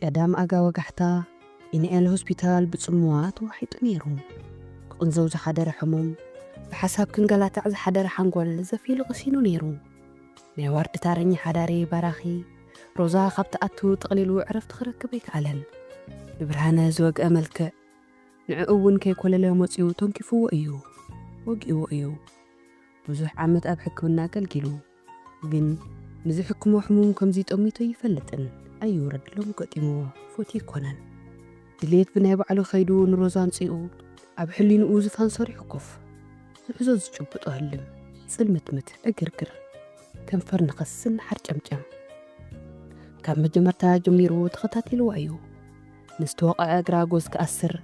ቀዳም ኣጋ ወጋሕታ ኢንኤል ሆስፒታል ብጽምዋ ተዋሒጡ ነይሩ። ክቕንዘው ዝሓደረ ሕሙም፣ ብሓሳብ ክንገላታዕ ዝሓደረ ሓንጎል ዘፊሉ ቀሲኑ ነይሩ። ናይ ዋርድ ታረኛ ሓዳሪ ባራኺ፣ ሮዛ ካብ ትኣቱ ጠቕሊሉ ዕረፍቲ ክረክብ ኣይከኣለን። ንብርሃነ ዝወግኣ መልክዕ ንዕኡ እውን ከይኮለለ መጺኡ ተንኪፉዎ እዩ። ወጊእዎ እዩ። ብዙሕ ዓመት ኣብ ሕክምና ኣገልጊሉ። ግን ንዝሕክሞ ሕሙም ከምዚ ጠሚቱ ኣይፈልጥን ኣዩ ረድ ሎሚ ገጢምዎ ፎቲ ኣይኮነን ድልየት ብናይ ባዕሉ ከይዱ ንሮዛ ኣምጺኡ ኣብ ሕሊንኡ ዝፋን ሰሪሑ ኮፍ ዝሕዞ ዝጭብጦ ህልም ጽልምትምት ዕግርግር ከንፈር ንኸስን ንሓርጨምጨም ካብ መጀመርታ ጀሚሩ ተኸታቲልዎ ኣዩ ንዝተወቕዐ እግራ ጎዝ ክኣስር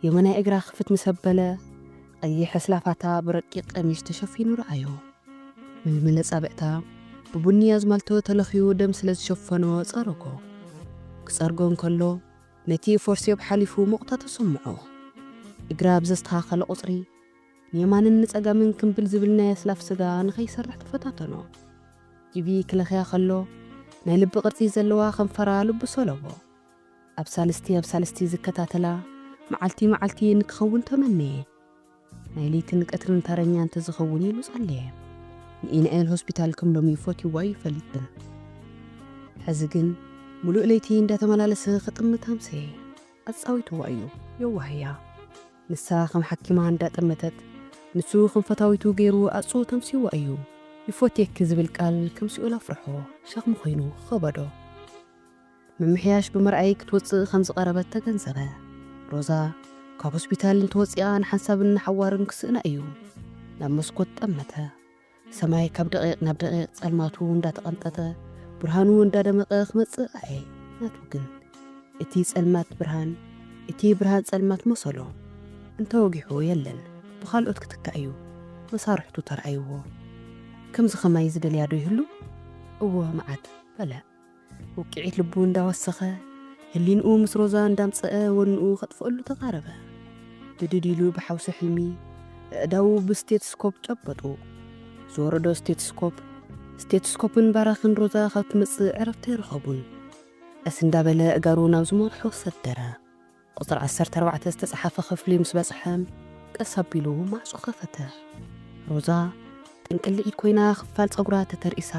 የመናይ እግራ ክፍት ምስ ኣበለ ቐይሕ ኣስላፋታ ብረቂቕ ቀሚሽ ተሸፊኑ ረኣዮ። ምልምል ኣጻብዕታ ብቡኒ ኣዝማልቶ ተለኽዩ ደም ስለ ዝሸፈኖ ጸረጎ። ክጸርጎ እንከሎ ነቲ ፎርሴፕ ሓሊፉ ሞቕታ ተሰምዖ። እግራ ኣብ ዘስተኻኸለ ቁጽሪ ንየማንን ንጸጋምን ክምብል ዝብል ናይ ኣስላፍ ስጋ ንኸይሰርሕ ተፈታተኖ። ጂቪ ክለኽያ ከሎ ናይ ልቢ ቅርጺ ዘለዋ ከንፈራ ልቡ ሰሎቦ። ኣብ ሳልስቲ ኣብ ሳልስቲ ዝከታተላ መዓልቲ መዓልቲ ንክኸውን ተመነየ። ናይ ለይትን ቀትርን ተረኛ እንተዝኸውን ኢሉ ጸለየ። ንኢናኤል ሆስፒታል ከም ሎሚ ፈትዩዎ ኣይፈልጥን። ሕዚ ግን ምሉእ ለይቲ እንዳተመላለሰ ክጥምት ኣምሰየ። ኣጻዊትዋ እዩ። የዋህ እያ። ንሳ ከም ሓኪማ እንዳጠመተት ንሱ ከም ፈታዊቱ ገይሩ ኣጽኡ ተምሲዋ እዩ። ይፎትየኪ ዝብል ቃል ከም ሲኦል ኣፍርሖ ሸኽሚ ኮይኑ ኸበዶ። ምምሕያሽ ብምርኣይ ክትወጽእ ከም ዝቐረበት ተገንዘበ። ሮዛ ካብ ሆስፒታል እንተወጺኣ ንሓንሳብን ንሓዋሩን ክስእና እዩ። ናብ መስኮት ጠመተ። ሰማይ ካብ ደቒቕ ናብ ደቒቕ ጸልማቱ እንዳተቐንጠጠ ብርሃኑ እንዳደመቐ ክመጽእ ረኣየ። ናቱ ግን እቲ ጸልማት ብርሃን፣ እቲ ብርሃን ጸልማት መሰሎ። እንተወጊሑ የለን ብኻልኦት ክትካእ እዩ። መሳርሕቱ ተራኣይዎ። ከምዚ ከማይ ዝደልያ ዶ ይህሉ? እወ መዓት በለ። ውቅዒት ልቡ እንዳወሰኸ ህሊንኡ ምስ ሮዛ እንዳምፀአ ወንኡ ከጥፍእሉ ተቓረበ። ብድድ ኢሉ ብሓውሲ ሕልሚ ኣእዳዉ ብስቴትስኮፕ ጨበጡ። ዝወረዶ ስቴትስኮፕ ስቴትስኮፕን ባራኽን ሮዛ ካብ ትመፅእ ዕረፍቲ ኣይረኸቡን። ቀስ እንዳበለ ኣእጋሩ ናብ ዝመርሖ ሰደረ። ቁጽሪ ዓሰርተ ኣርባዕተ ዝተጻሓፈ ክፍሊ ምስ በጽሐ ቀስ ኣቢሉ ማዕጾ ከፈተ። ሮዛ ጥንቅሊዒት ኮይና ክፋል ጸጉራ ተተርኢሳ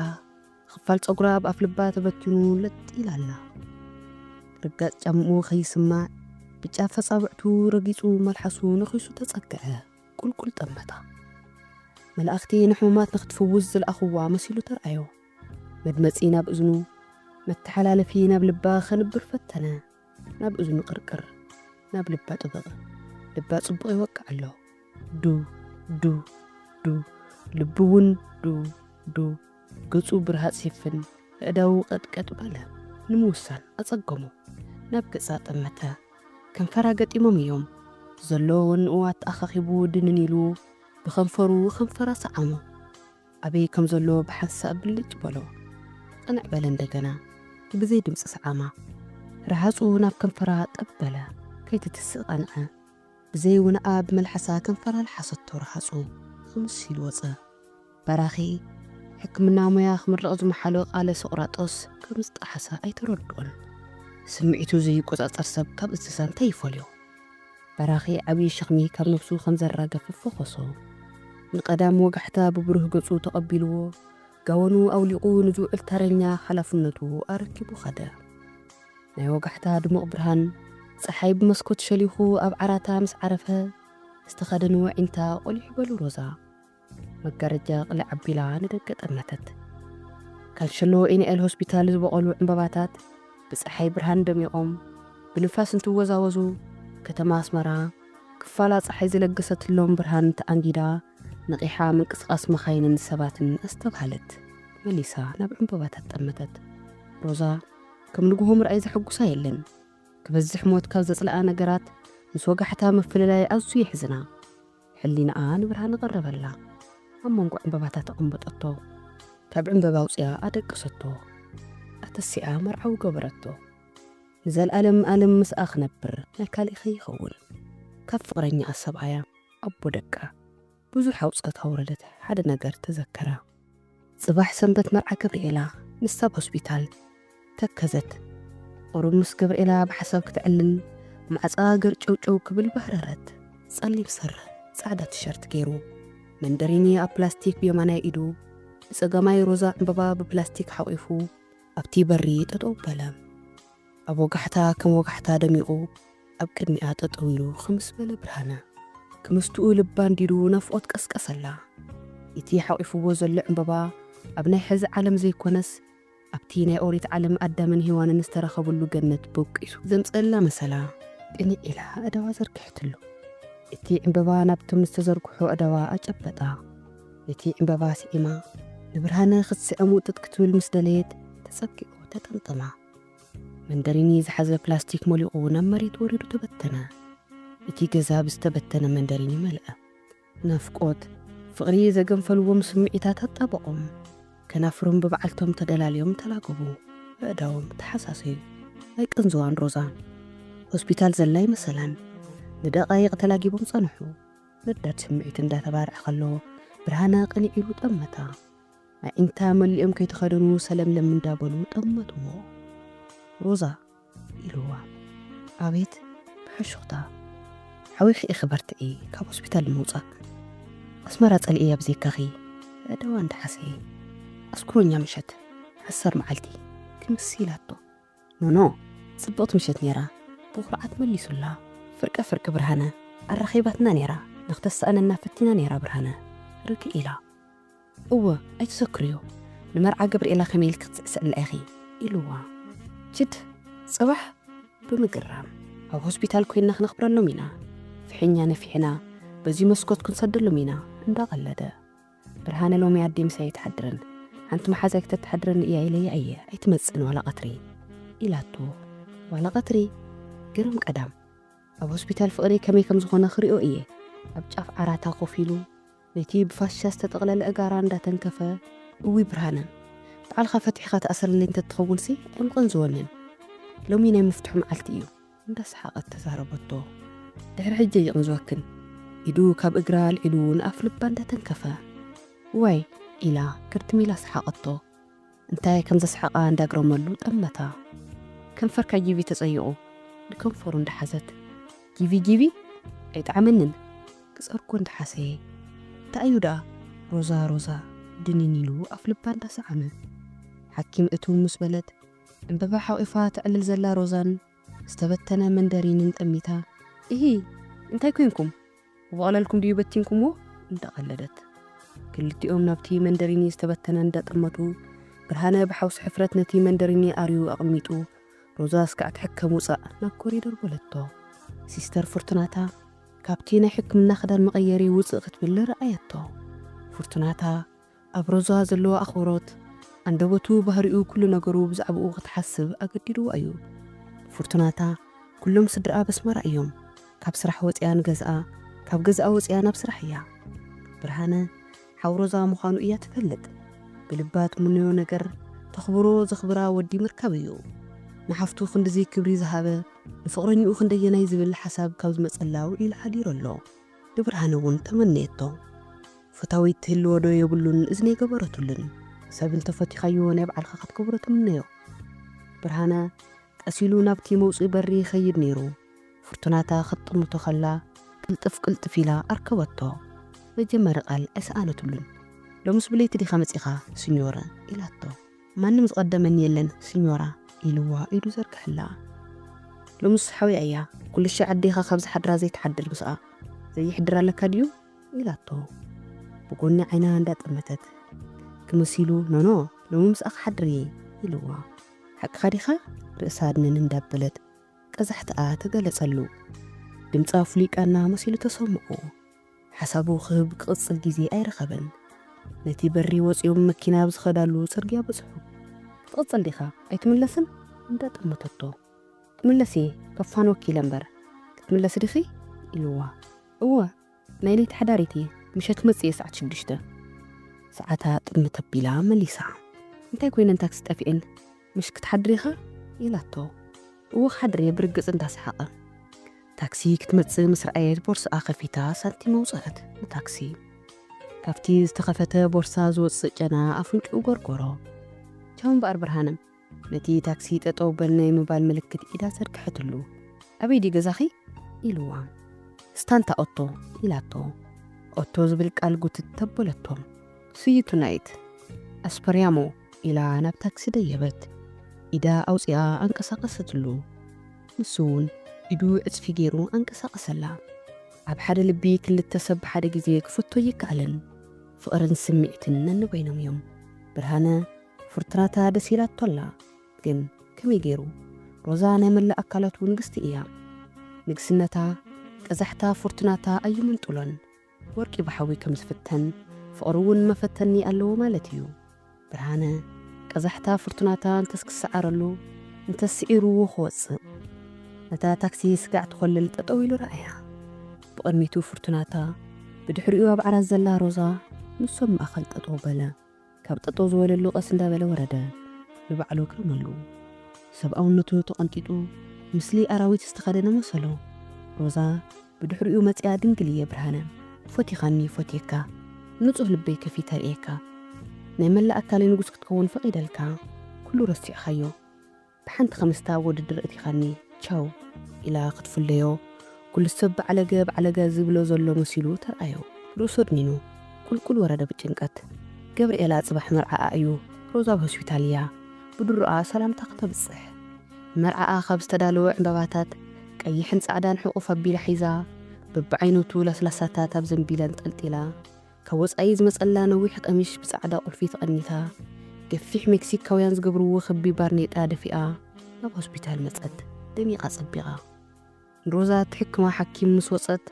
ክፋል ጸጉራ ኣብ ኣፍልባ ተበቲኑ ለጥ ኢላ ኣላ። ርጋጽ ጫምኡ ከይስማዕ ብጫፍ ኣጻብዕቱ ረጊጹ መልሓሱ ነኺሱ ተጸግዐ ቁልቁል ጠመታ። መላእኽቲ ንሕሙማት ንክትፍውስ ዝልኣኽዋ መሲሉ ተርኣዮ። መድመጺ ናብ እዝኑ መተሓላለፊ ናብ ልባ ከንብር ፈተነ። ናብ እዝኑ ቅርቅር ናብ ልባ ጥብቕ ልባ ጽቡቕ ይወቅዕ ኣሎ ዱ ዱ ዱ ልቡ ውን ዱ ዱ ገጹ ብርሃጽ ይፍን ኣእዳዉ ቀጥቀጥ በለ ንምውሳን ኣጸገሞ ናብ ገጻ ጠመተ ከንፈራ ገጢሞም እዮም ዘሎ ወንኡ ኣተኣኻኺቡ ድንን ኢሉ ብኸንፈሩ ከንፈራ ሰዓሞ። ኣበይ ከም ዘሎ ብሓንሳእ ብልጭ በሎ። ቅንዕ በለ እንደገና። ብዘይ ድምጺ ሰዓማ። ረሃጹ ናብ ከንፈራ ጠብ በለ። ከይትትስእ ቐንዐ። ብዘይ ውነኣ ብመልሓሳ ከንፈራ ለሓሰቶ ረሃጹ ኽምስ ኢሉ ወጸ። በራኺ ሕክምና ሞያ ክምረቕ ዝመሓሎ ቃለ ሶቕራጦስ ከም ዝጠሓሰ ኣይተረድኦን። ስምዒቱ ዘይቆጻጸር ሰብ ካብ እንስሳ እንታይ ይፈልዮ? በራኺ ዓብዪ ሸኽሚ ካብ ነብሱ ከም ዘራገፈ ፈኾሶ። ንቀዳም ወጋሕታ ብብሩህ ገጹ ተቐቢልዎ፣ ጋወኑ ኣውሊቑ ንዝውዕል ተረኛ ሓላፍነቱ ኣረኪቡ ከደ። ናይ ወጋሕታ ድሙቕ ብርሃን ጸሓይ ብመስኮት ሸሊኹ ኣብ ዓራታ ምስ ዓረፈ፣ ዝተኸደንዎ ዒንታ ቆሊሑ በሉ ሮዛ። መጋረጃ ቅልዕ ኣቢላ ንደገ ጠመተት። ካንሸሎ ኢንኤል ሆስፒታል ዝበቖሉ ዕምበባታት ብጸሓይ ብርሃን ደሚቖም ብንፋስ እንትወዛወዙ፣ ከተማ ኣስመራ ክፋላ ጸሓይ ዝለገሰትሎም ብርሃን ተኣንጊዳ ነቒሓ ምንቅስቓስ መኻይንን ሰባትን ኣስተብሃለት። መሊሳ ናብ ዕምበባታት ጠመተት። ሮዛ ከም ንግሆ ምርኣይ ዘሐጉሳ የለን። ክበዝሕ ሞት ካብ ዘጽልኣ ነገራት ምስ ወጋሕታ ምፍልላይ ኣዝዩ የሕዝና። ሕሊናኣ ንብርሃን ኣቐረበላ። ኣብ መንጎ ዕምበባታት ኣቐመጠቶ። ካብ ዕምበባ ኣውጺኣ ኣደቀሰቶ። ኣተሲኣ መርዓዊ ገበረቶ። ንዘልኣለም ኣለም ምስኣ ክነብር ናይ ካልእ ከይኸውን። ካብ ፍቕረኛኣ ሰብኣያ፣ ኣቦ ደቃ፣ ብዙሕ ኣውጸት ኣውረደት ሓደ ነገር ተዘከራ። ጽባሕ ሰንበት መርዓ ገብርኤላ ምስ ኣብ ሆስፒታል ተከዘት ቁሩብ ምስ ገብርኤላ ብሓሳብ ክተዕልል ማዕጾኣ ገርጨውጨው ክብል ባህረረት። ጸሊም ስረ ጻዕዳ ቲሸርት ጌሩ መንደሪኒ ኣብ ፕላስቲክ ብየማናይ ኢዱ ብጸጋማይ ሮዛ ዕምበባ ብፕላስቲክ ሓቂፉ ኣብቲ በሪ ጠጠው በለ። ኣብ ወጋሕታ ከም ወጋሕታ ደሚቑ ኣብ ቅድሚኣ ጠጠው ኢሉ ኽምስ በለ ብርሃነ ክምስትኡ ልባ ኣንዲዱ ናፍቖት ቀስቀሰላ ኢቲ ሓቚፍዎ ዘሎ ዕምበባ ኣብ ናይ ሕዚ ዓለም ዘይኮነስ ኣብቲ ናይ ኦሪት ዓለም ኣዳምን ሄዋንን ዝተረኸብሉ ገነት ቦቂሱ ዘምጸእላ መሰላ ቅንዕ ኢላ ኣእዳዋ ዘርግሐትሉ ኢቲ ዕምበባ ናብቶም ዝተዘርግሑ ኣእዳዋ ኣጨበጣ ነቲ ዕምበባ ስዒማ ንብርሃነ ኽትስዕም ውጥጥ ክትብል ምስ ደለየት ተጸጊዑ ተጠምጠማ። መንደሪኒ ዝሓዘ ፕላስቲክ መሊቑ ናብ መሬት ወሪዱ ተበተነ። እቲ ገዛ ብዝተበተነ መንደሪኒ መልአ። ናፍቆት፣ ፍቕሪ ዘገንፈልዎም ስምዒታት ኣጣበቖም። ከናፍሮም ብበዓልቶም ተደላልዮም ተላገቡ። ኣእዳዎም ተሓሳሰዩ። ኣይቅንዝዋን ሮዛ። ሆስፒታል ዘላ ኣይመሰላን። ንደቓይቕ ተላጊቦም ጸንሑ። ነዳድ ስምዒት እንዳተባርዐ ከሎ ብርሃነ ቅንዕ ኢሉ ጠመታ። ኣዒንታ መሊኦም ከይተኸደኑ ሰለምለም እንዳበሉ ጠመትዎ። ሮዛ! ኢልዋ ኣቤት ብሕሹኽታ። ሓዊኺ ኢኺ በርትዒ ካብ ሆስፒታል ንምውጻእ ኣስመራ ጸሊኤያ ብዘይካኺ ኣእዳዋ እንዳሓሰየ። ኣስኩሮኛ ምሸት ዓሰር መዓልቲ ክምስ ኢላቶ። ኖኖ ጽብቕቲ ምሸት ኔራ ብኹርዓት መሊሱላ ፍርቀ ፍርቂ ብርሃነ ኣራኺባትና ኔራ ንኽተሳእነና ፈቲና ኔራ ብርሃነ ርግእ ኢላ እወ ኣይትሰክርዮ ንመርዓ ገብርኤላ ከመይ ኢልኪ ክትስዕስዕላ ኢኺ ኢሉዋ ችድ ጽባሕ ብምግራም ኣብ ሆስፒታል ኮይንና ክነኽብረሎም ኢና ፍሒኛ ነፊሕና በዚ መስኮት ክንሰደሎም ኢና እንዳቐለደ። ብርሃነ ሎሚ ኣዲ ምሳይ ኣይትሓድርን ሓንቲ መሓዛይ ክተትሓድረኒ እያ ኢለያ እየ ኣይትመጽእን ዋላ ቀትሪ ኢላቶ ዋላ ቀትሪ ግርም ቀዳም ኣብ ሆስፒታል ፍቕሪ ከመይ ከም ዝኾነ ክሪኦ እየ ኣብ ጫፍ ዓራታ ኮፍ ኢሉ ነቲ ብፋሻ ዝተጠቕለለ እጋራ እንዳተንከፈ እዊ ብርሃነ በዓልኻ ፈትሒኻ ተኣስረለይ እንተትኸውንሲ ዕምቕን ዝወንን ሎሚ ናይ ምፍትሑ መዓልቲ እዩ እንዳሰሓቐት ተዛረበቶ። ድሕሪ ሕጂ ኣይቕንዝወክን። ኢዱ ካብ እግራ ኣልዒሉ ንኣፍ ልባ እንዳተንከፈ። ዋይ! ኢላ ክርትም ኢላ ሰሓቐቶ። እንታይ ከም ዘስሕቓ እንዳግረመሉ ጠመታ። ከንፈርካ ጂቪ ተጸይቑ። ንከንፈሩ እንዳሓዘት። ጂቪ ጂቪ? ኣይጠዓመንን። ክጸርጎ እንዳሓሰየ። እንታይ'ዩ ደኣ? ሮዛ ሮዛ ድንን ኢሉ ኣፍ ልባ እንዳሰዓመ። ሓኪም እትው ምስ በለት። ዕምበባ ሓቚፋ ተዕልል ዘላ ሮዛን ዝተበተነ መንደሪንን ጠሚታ። እሂ! እንታይ ኰይንኩም? ብቐለልኩም ድዩ በቲንኩምዎ? እንዳቐለደት። ክልቲኦም ናብቲ መንደሪኒ ዝተበተነ እንዳጠመቱ። ብርሃነ ብሓውሲ ሕፍረት ነቲ መንደሪኒ ኣርዩ ኣቐሚጡ። ሮዛ እስካዕ ትሕከም ውጻእ! ናብ ኮሪደር በለቶ። ሲስተር ፍርቱናታ ካብቲ ናይ ሕክምና ክዳን መቐየሪ ውጽእ ክትብል ረኣየቶ። ፍርቱናታ። ኣብ ሮዛ ዘለዎ ኣኽብሮት፣ ኣንደበቱ፣ ባህሪኡ፣ ኩሉ ነገሩ ብዛዕባኡ ክትሓስብ ኣገዲድዋ እዩ። ፉርቱናታ፣ ኩሎም ስድራኣ በስማራ እዮም። ካብ ስራሕ ወጺኣ ንገዝኣ፣ ካብ ገዝኣ ወጺኣ ናብ ስራሕ እያ። ብርሃነ፣ ሓው ሮዛ ምዃኑ እያ ትፈልጥ። ብልባ ትምነዮ ነገር፣ ተኽብሮ፣ ዘኽብራ ወዲ ምርካብ እዩ። ንሓፍቱ ክንድዚ ክብሪ ዝሃበ፣ ንፍቕረኝኡ ክንደየናይ ዝብል ሓሳብ ካብ ዝመጸላው ኢሉ ሓዲሩ ኣሎ። ንብርሃነ እውን ተመነየቶ። ፈታዊት ትህልዎ ዶ የብሉን እዝኒ ኣይገበረትሉን። ሰብ እንተ ፈቲኻዮ ናይ ባዕልኻ ክትገብሮ ትምነዮ። ብርሃነ ቀስ ኢሉ ናብቲ መውጽኢ በሪ ይኸይድ ነይሩ። ፍርቱናታ ክትጥምቶ ከላ ቅልጥፍ ቅልጥፍ ኢላ ኣርከበቶ። መጀመሪ ቃል ኣይሰኣነትሉን። ሎምስ ብለይቲ ዲኻ መጺኻ ስኞረ? ኢላቶ። ማንም ዝቐደመኒ የለን ስኞራ ኢልዋ ኢዱ ዘርግሐላ። ሎምስ ሓውያ እያ ኩልሻዕ ኣዴኻ ካብ ዝሓድራ ዘይትሓድር ምስኣ ዘየሕድር ኣለካ ድዩ ኢላቶ ብጎኒ ዓይና እንዳ ጠመተት። ክምሲሉ ኖኖ ሎሚ ምስኣ ክሓድር እየ ኢልዋ። ሓቅኻ ዲኻ ርእሳ ኣድንን እንዳበለት ቀዛሕትኣ ተገለጸሉ። ድምጻ ፍሉይ ቃና መሲሉ ተሰምዖ። ሓሳቡ ክህብ ክቕጽል ግዜ ኣይረኸበን። ነቲ በሪ ወጺኦም መኪና ኣብ ዝኸዳሉ ጽርግያ በጽሑ። ክትቕጽል ዲኻ ኣይትምለስን? እንዳ ጠመተቶ። ክምለስ እየ ከፋንወኪ ኢለ እምበር። ክትምለሲ ዲኺ? ኢሉዋ። እወ ናይ ለይቲ ሓዳሪት እየ ምሸት ክመጽእ እየ ሰዓት ሽዱሽተ። ሰዓታ ጥምት ኣቢላ መሊሳ። እንታይ ኮይነን ታክሲ ጠፊኤን? ምሽ ክትሓድሪ ኢኻ? ኢላቶ። እወ ክሓድር እየ ብርግጽ እንዳሰሓቐ። ታክሲ ክትመጽእ ምስ ረኣየት ቦርስኣ ከፊታ ሳንቲም ኣውጸኣት ንታክሲ። ካብቲ ዝተኸፈተ ቦርሳ ዝወጽእ ጨና ኣፍንጭኡ ጎርጎሮ። ቻው እምበኣር ብርሃነ። ነቲ ታክሲ ጠጠው በል ናይ ምባል ምልክት ኢዳ ዘርግሐትሉ። ኣበይ ድዩ ገዛኺ? ኢልዋ። ስታንታ ኦቶ። ኢላቶ። ኦቶ ዝብል ቃል ጉትት ኣበለቶ። ስይቱ ናይት ኣስፐርያሞ። ኢላ ናብ ታክሲ ደየበት። ኢዳ ኣውጺኣ ኣንቀሳቐሰትሉ። ንሱ'ውን ኢዱ ዕጽፊ ገይሩ ኣንቀሳቐሰላ። ኣብ ሓደ ልቢ ክልተ ሰብ ብሓደ ግዜ ክፈቱ ኣይከኣልን። ፍቕርን ስምዒትን ነንበይኖም'ዮም። ብርሃነ ፍርቱናታ ደስ ኢላቶ ኣላ። ግን ከመይ ገይሩ? ሮዛ ናይ መላእ ኣካላቱ ንግስቲ እያ። ንግስነታ፣ ቀዛሕታ ፍርቱናታ ኣይምንጥሎን። ወርቂ ብሓዊ ከም ዝፍተን፣ ፍቕሪ እውን መፈተኒ ኣለዎ ማለት እዩ። ብርሃነ፣ ቀዛሕታ ፍርቱናታ እንተስ ክሰዓረሉ፣ እንተስ ስዒሩዎ ክወጽእ። ነታ ታክሲ ስጋዕ ትኾልል ጠጠው ኢሉ ረኣያ። ብቕድሚቱ ፍርቱናታ፣ ብድሕሪኡ ኣብ ዓራት ዘላ ሮዛ፣ ንሶም ማእከል ጠጠው በለ። ካብ ጠጠው ዝበለሉ ቀስ እንዳበለ ወረደ። ንባዕሉ ኣግረመሉ። ሰብኣውነቱ ተቐንጢጡ ምስሊ ኣራዊት ዝተኸደነ መሰሎ። ሮዛ ብድሕሪኡ መፂኣ ድንግል እየ ብርሃነ ፎቲኻኒ ይፎትየካ ንፁህ ልበይ ከፊተ ርእየካ ናይ መላእ ኣካለይ ንጉስ ክትከውን ፈቒደልካ ኩሉ ረሲዕኻዮ። ብሓንቲ ከምስታ ወድድር እቲኻኒ ቻው ኢላ ክትፍለዮ ኩሉ ሰብ ባዕለገ ባዕለገ ዝብሎ ዘሎ መሲሉ ተርኣዮ ርእሱ ኣድኒኑ ቁልቁል ወረደ ብጭንቀት ገብርኤላ ጽባሕ መርዓኣ እዩ ሮዛ ኣብ ሆስፒታል እያ ብድሮኣ ሰላምታ ክተብጽሕ ንመርዓኣ ካብ ዝተዳለወ ዕንባባታት ቀይሕን ጻዕዳን ሕቁፍ ኣቢላ ሒዛ በብዓይነቱ ለስላሳታት ኣብ ዘንቢል ኣንጠልጢላ ካብ ወጻኢ ዝመጸላ ነዊሕ ቐሚሽ ብጻዕዳ ቁልፊ ተቐኒታ፣ ገፊሕ ሜክሲካውያን ዝገብርዎ ክቢ ባርኔጣ ደፊኣ ናብ ሆስፒታል መጸት፣ ደሚቓ ጸቢቓ። ንሮዛ እትሕክማ ሓኪም ምስ ወጸት፣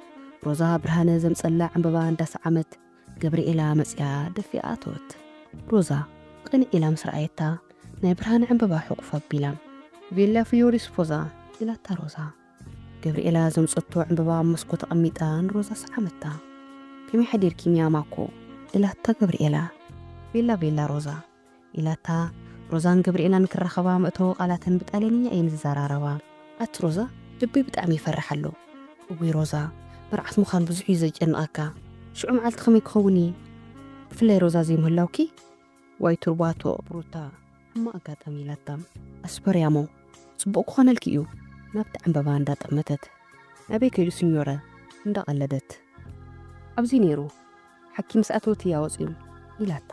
ሮዛ ብርሃነ ዘምጸላ ዕምበባ እንዳሰዓመት፣ ገብርኤላ መጺኣ ደፊኣ ኣተወት። ሮዛ ቕንዕ ኢላ ምስ ረኣየታ፣ ናይ ብርሃነ ዕምበባ ሕቑፍ ኣቢላ። ቬላ ፍዮሪስ ፎዛ! ኢላታ ሮዛ። ገብርኤላ ዘምጸቶ ዕምበባ ኣብ መስኮት ኣቐሚጣ ንሮዛ ሰዓመታ። ከመይ ሓዲርኪ ሚያ ማኮ? ኢላታ ገብርኤላ። ቤላ ቤላ ሮዛ። ኢላታ። ሮዛን ገብርኤላን ክራኸባ መእተዊ ቃላተን ብጣልያንኛ እየን ዝዘራረባ። ኣቲ ሮዛ ልበይ ብጣዕሚ ይፈርሕ ኣሎ። እውይ ሮዛ መርዓት ምዃን ብዙሕ እዩ ዘጨንቐካ። ሽዑ መዓልቲ ከመይ ክኸውን እዪ? ብፍላይ ሮዛ ዘይምህላውኪ? ዋይ ቱርባቶ ሩታ ሕማቅ ኣጋጣሚ ኢላታ ኣስፐርያሞ ጽቡቅ ክኮነልኪ እዩ ናብቲ ዕንበባ እንዳ ጠመተት ናበይ ከይዱ ስኞረ እንዳ ቀለደት ኣብዚ ነይሩ ሓኪ ምስ ኣተወት እያ ወጽዩ ኢላታ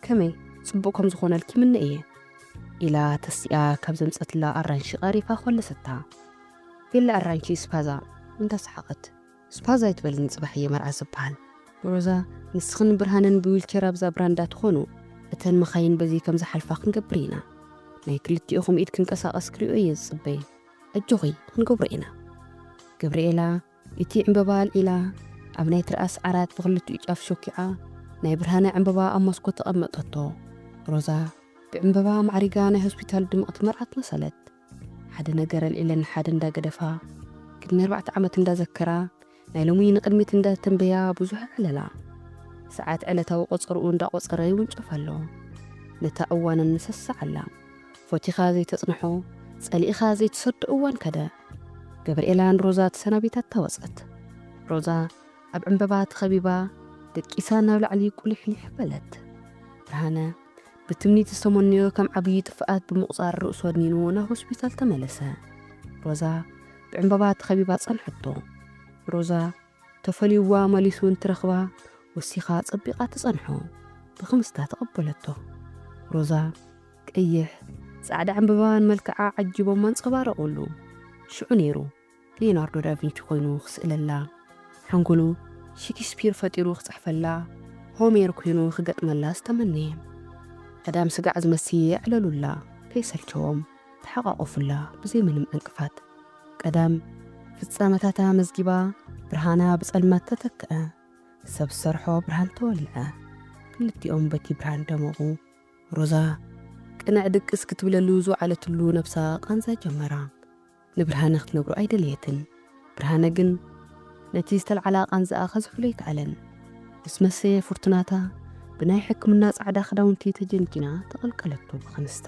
ከመይ ጽቡቅ ከም ዝኮነልኪ ይምነ እየ ኢላ ተሲኣ ካብ ዘምጸትላ ኣራንሺ ቀሪፋ ኮለሰታ ቬላ ኣራንሺ ስፓዛ እንዳ ሰሓቀት። ስፓዝ ኣይትበልኒ ጽባሕ እየ መርዓ ዝብሃል። ሮዛ ንስኽን ብርሃንን ብዊልቸር ኣብዛ ብራንዳ ትኾኑ እተን መኻይን በዚ ከም ዝሓልፋ ክንገብር ኢና ናይ ክልቲኤኹም ኢድ ክንቀሳቐስ ክሪኦ እየ ዝጽበይ። ኣጆኺ ክንገብሮ ኢና። ገብርኤላ እቲ ዕንበባ ኣልዒላ ኣብ ናይ ትርኣስ ዓራት ብኽልቲኡ ጫፍ ሾኪዓ ናይ ብርሃነ ዕንበባ ኣብ ሞስኮት ኣቐመጠቶ። ሮዛ ብዕንበባ ኣማዕሪጋ ናይ ሆስፒታል ድምቕቲ መርዓት መሰለት። ሓደ ነገር ኣልዒለን ንሓደ እንዳገደፋ ቅድሚ ኣርባዕተ ዓመት እንዳዘከራ ናይ ሎሚ ንቅድሚት እንዳተንበያ ብዙሕ ዕለላ። ሰዓት ዕለታዊ ቆጸርኡ እንዳቆጸረ ይውንጨፍ ኣሎ። ነታ እዋንን ንሰስዓላ። ፎቲኻ ዘይተጽንሖ ጸሊእኻ ዘይትሰዶ እዋን ከደ። ገብርኤላ ንሮዛ ተሰናቢታታ ወጸት። ሮዛ ኣብ ዕንበባ ተኸቢባ ደቂሳ ናብ ላዕሊ ቁሊሕሊሕ በለት። ብርሃነ ብትምኒት ዝተመነዮ ከም ዓብዪ ጥፍኣት ብምቑፃር ርእሱ ኣድኒኑ ናብ ሆስፒታል ተመለሰ። ሮዛ ብዕምባባ ተኸቢባ ጸንሐቶ። ሮዛ ተፈልዩዋ መሊሱ እንትረኽባ ወሲኻ ጸቢቓ ትጸንሖ። ብኽምስታ ተቐበለቶ። ሮዛ ቀይሕ ጻዕዳ ዕምበባን መልክዓ ዓጂቦም ኣንጸባረቑሉ። ሽዑ ነይሩ ሊዮናርዶ ዳቪንቺ ኮይኑ ክስእለላ፣ ሕንጉኑ ሺኪስፒር ፈጢሩ ክጽሕፈላ፣ ሆሜር ኩይኑ ክገጥመላስ ተመነየ። ቀዳም ስጋዕ ዝመስዪ የዕለሉላ፣ ከይሰልቸዎም ተሓቛቖፉላ ብዘይ ምንም ዕንቅፋት። ቀዳም ፍጻመታታ መዝጊባ፣ ብርሃና ብጸልማት ተተክዐ፣ ሰብ ዝሰርሖ ብርሃን ተወልዐ። ክልቲኦም በቲ ብርሃን ደመቑ። ሮዛ ቅነዕ ድቅስ ክትብለሉ ዝወዓለትሉ ነብሳ ቃንዛ ጀመራ። ንብርሃነ ክትነግሮ ኣይደለየትን። ብርሃነ ግን ነቲ ዝተልዓላ ቃንዛኣ ከዝሕሎ ኣይከኣለን። ምስ መሰየ ፍርቱናታ ብናይ ሕክምና ጻዕዳ ክዳውንቲ ተጀንጂና ተቐልቀለቶ ብኽንስታ።